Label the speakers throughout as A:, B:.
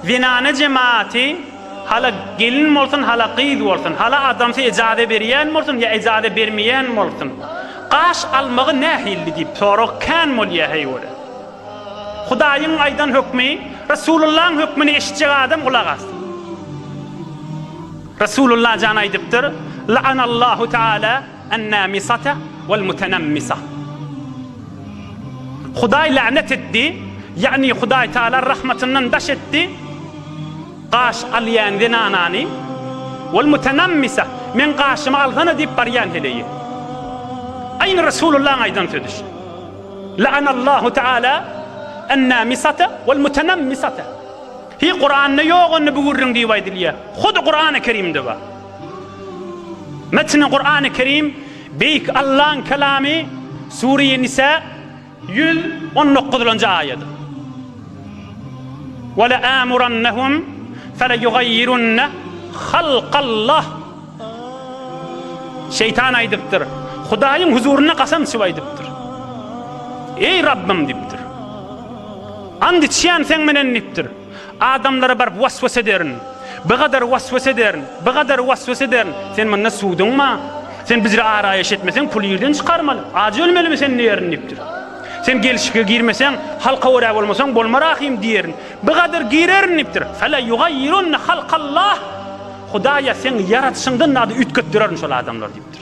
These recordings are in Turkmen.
A: Zenana jematy hala gelin bolsun, hala gyz bolsun, hala adamsy ejaza berýän bolsun ýa ejaza bermeýän bolsun, gaş almagy nähilli diýip sorag kän bolýar heýwere. Hudaýyň aýdan hökmi, Resulullaň hökmüni eşitjek adam gulak assyn. Resulullah jan aýdypdyr, La'anallahu taala Ennamisata welmutenammisah. Hudaý länet etdi, ýagny Hudaý Taala rahmatyndan daş etdi, gaş alýan zenanany, welmutenammisah, meň gaşymy alsana diýip barýan heleýi. Aýny Resulullahyň aýdan sözi şu. La'anallahu Taala ennamisata welmutenammisata. Hi Kuranda ýok onda bu gürrüň diýip aýdylýar. Hudy Kurany Kerimde bar. Metni Kur'an-ı Kerim, Beýik Allaň Kelamy, Sure-i Nisa, ýüz on dokuzynjy aýat. Weleamurannahum feleýugaýýirunne halkallah. Şeýtan aýdypdyr, Hudaýyň huzurynda kasam içip aýdypdyr. Eý Rabbym diýipdir. Ant içýän seň menen diýipdir. Adamlara baryp was-was ederin. Bigadar was-was ederin. Bigadar was-was ederin. Sen munda suwduňma? Sen bizre araýaş etmeseň, puly ýerden çykarmaly. Ajy ölmelimi sen diýerin diýipdir. Sen gelşike girmeseň, halka görä bolmasaň, bolma rahym diýerin. Bigadar girerin diýipdir. Fela ýugaýyrunna halkallah. Hudaýa seň ýaradyşyňdan zady üýtgetdirerin şol adamlar diýipdir.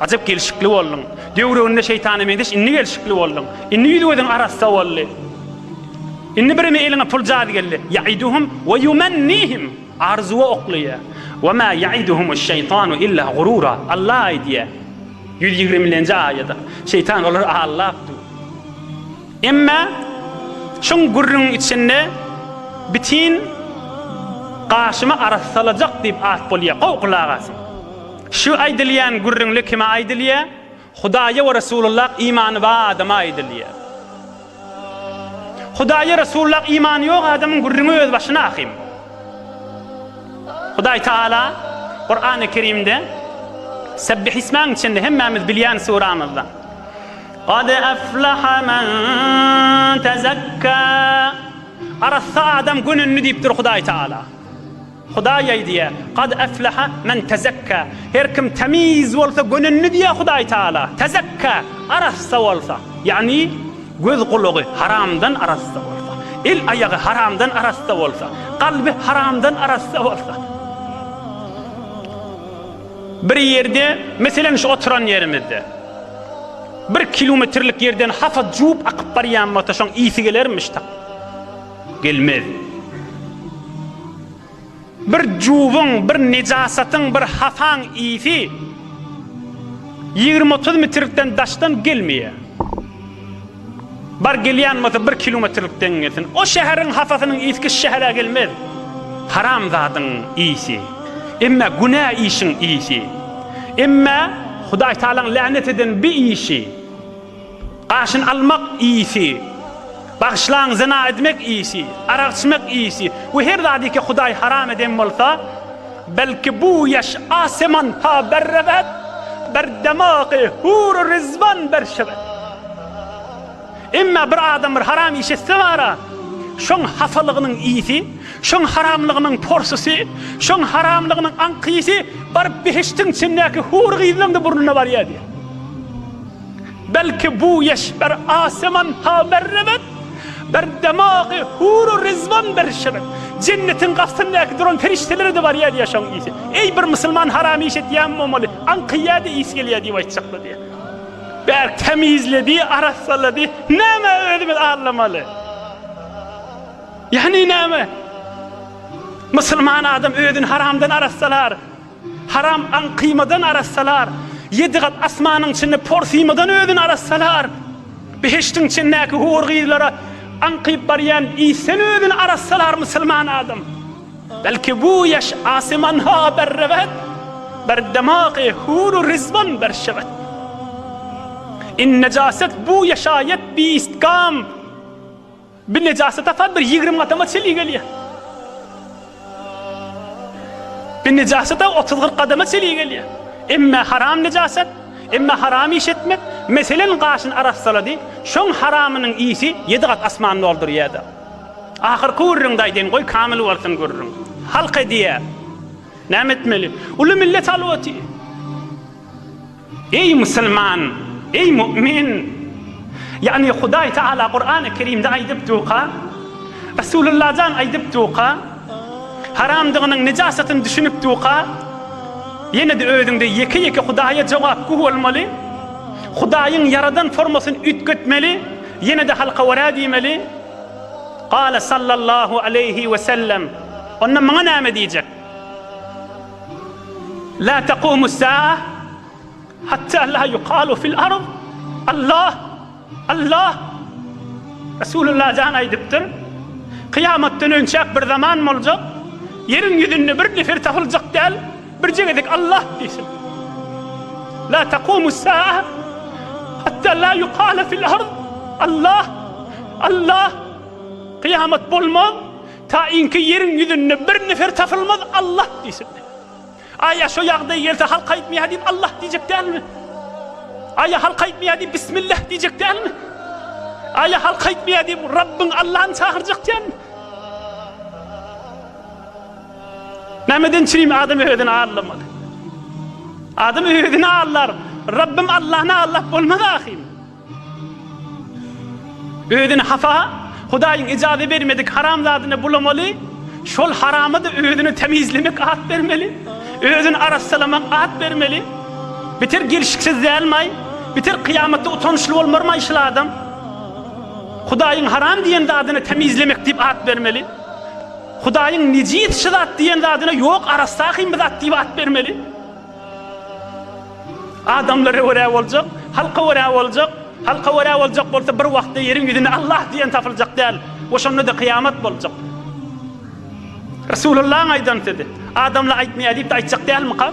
A: Ajap gelşikli bolduň. Döwrüginde şeýtana meňzeş indi gelşikli bolduň. Indi ýüz-gözüň arassa boldy. Indi birimi eliňe pul jady geldi. Ýaiduhum we ýumannihim. Arzuwa oklaýar. We ma ýaiduhumuş-şeýtanu illa gurura. Allah aýdýar. Ýüz ýigrimilenji aýat. Şeýtan olary aldap dur. Emma şuň gürrüňiň içinde bitin gaşymy arassalajak diýip at bolýar. Gowy gulak asyň. Şu aýdylýan gürrüňde kime aýdylýar? Hudaýa we Resulullah imany bar adama aýdylýar. Hudaýa Resulullah imany ýok adamyň gürrüňi öz başyna ahym. Hudaý Taala Kurany Kerimde Sebbih ismäň içinde hemmämiz bilýän suramyzda Gad aflaha men tezekka Arassa adam gönündi diýipdir Hudaý Taala. Hudaý aýdýar, Kad efleha men tezekka, Her kim temiz bolsa gönendi diýýär Hudaý Taala, tezekka, arassa bolsa, ýagny göz-gulagy haramdan arassa bolsa, el-aýagy haramdan arassa bolsa, kalby haramdan arassa bolsa. Bir ýerde, meselem şu oturan ýerimizde, bir kilometrlik ýerden hapa juwup akyp barýan bolsa şoň ysy gelermiş tak. Gelmez. Bir juwuň, bir nejasatyň, bir hasaň ysy ýigrimi-otuz mitrlikden daşdan gelmeýär. Bar gelýän bolsa bir kilometrlikden gelsin. O şäheriň hasasynyň ysky şu şähere gelmez. Haramzadyň ysy. Emme günä işiň ysy. Emme Hudaýtagalaň länet eden bi işi. Gaşyn almak iýsi, bagyşlaň zyna edmek iýsi, arak içmek iýsi we her zady ki Hudaý haram eden bolsa, belki bu ýaş aseman ta berrewet bir demagy hur-u rizwan berşewet. Emma bir adam bir haram iş etse bara, şoň hasalygynyň iýsi, şoň haramlygynyň porsysy, şoň haramlygynyň aňkyýsy baryp behiştiň içindäki hur gyzlaň-da burnuna barýar diýýär. Belki bu eşber aseman ha berrebet, Bir demagy huru rizwan berşebet. Jennetiň gapysyndaky duran perişdelere-de barýa diýýär şoň ysy. Eý, bir musulman haram iş etýän bolmaly, aňkaýýa-da ysy gelýä diýip aýtjaklar diýýär. Bärik tämizledi, arassalady. Nämä özümiz allamaly? Ýagny näme? Musulman adam özüni haramdan arassalar. Haram aň kyýmadan arassalar, ýedi gat asmanyň içinde por syýmadan özüni arassalar, behiştiň içindäki hur gyzlara aňkyp barýan isden özüni arassalar musulman adam, belki bu ýaş asymanha berreget, ber demagy huru rizwan ber şewet. In nejaset bu ýaşaýat biistgam. Bir nejasy tapar, bir ýigrimi gadama çenli gelýär. Bir nejasata otuz-kyrk gadama çenli gelýär. Emme haram nejasat, emme haram iş etmek, meselen, gaşyny arassalady, şoň haramynyň isi ýedi gat asmany doldurýar-da. Ahyrky gürrüňde aýdaýyn, goý, kamyl bolsun gürrüň. Halk edýär. Näme etmeli? Uly millet halwaty. Eý musulman! Eý mu'min! Ýagny Hudaý Tagala Kurany Kerimde aýdypduka, Resulullah jan aýdypduka, haramdygynyň, nejasatyny düşünipduka, ýene-de özüňde ýeke-ýeke Hudaýa jogapgü bolmaly, Hudaýyň ýaradan formasyny üýtgetmeli, ýene-de halka wara diýmeli. Gale sallallahu aleýhi we sellem. Onda maňa näme diýjek? La taqumus saa hatta la yuqalu fil ard Allah Allah Resulullah jan aýdypdyr, Kyýamatdan önçäk bir zaman boljak, ýeriň ýüzünde bir nefer tapyljak däl, birje gezek Allah diýsin. La taqumus saa hatta la yuqala fil ard Allah Allah Kyýamat bolmaz, Taýynky ýeriň ýüzünde bir nefer tapylmaz Allah diýsin. Aý ýa şo ýagdaý gelse halk aýtmaýar diýip Allah diýjek dälmi? Aý ýa halk aýtmaýar diýip Bismillah diýjek dälmi? Aý ýa halk aýtmaýar diýip Rabbyň Allahny çagyrjak dälmi? Nämeden çyn adam özüni allamaly? Adam özüni allar. Rabbym Allahny allap bolmaz ahyryn. Özüni hapa, Hudaýyň ijazä bermedik haram zadyna bulamaly, şol harama-da özüni temizlemek at bermeli, özüni arassalamak at bermeli. Biter gelşiksiz dälmaý? Biter kyýamatda utançly bolmarmaý şol adam? Hudaýyň haram diýen zadyna temizlemek diýip at bermeli. Hudaýyň nejis şu zat diýen zadyna ýok, arassa-hym bu zat diýip at bermeli. Adamlara görä boljak, halka görä boljak, halka görä boljak bolsa bir wagtda ýeriň ýüzünde Allah diýen tapyljak däl we şonda-da kyýamat boljak. Resulyllahyň aýdan sözi, adamlar aýtmaýar diýip-de aýtjak dälmyka?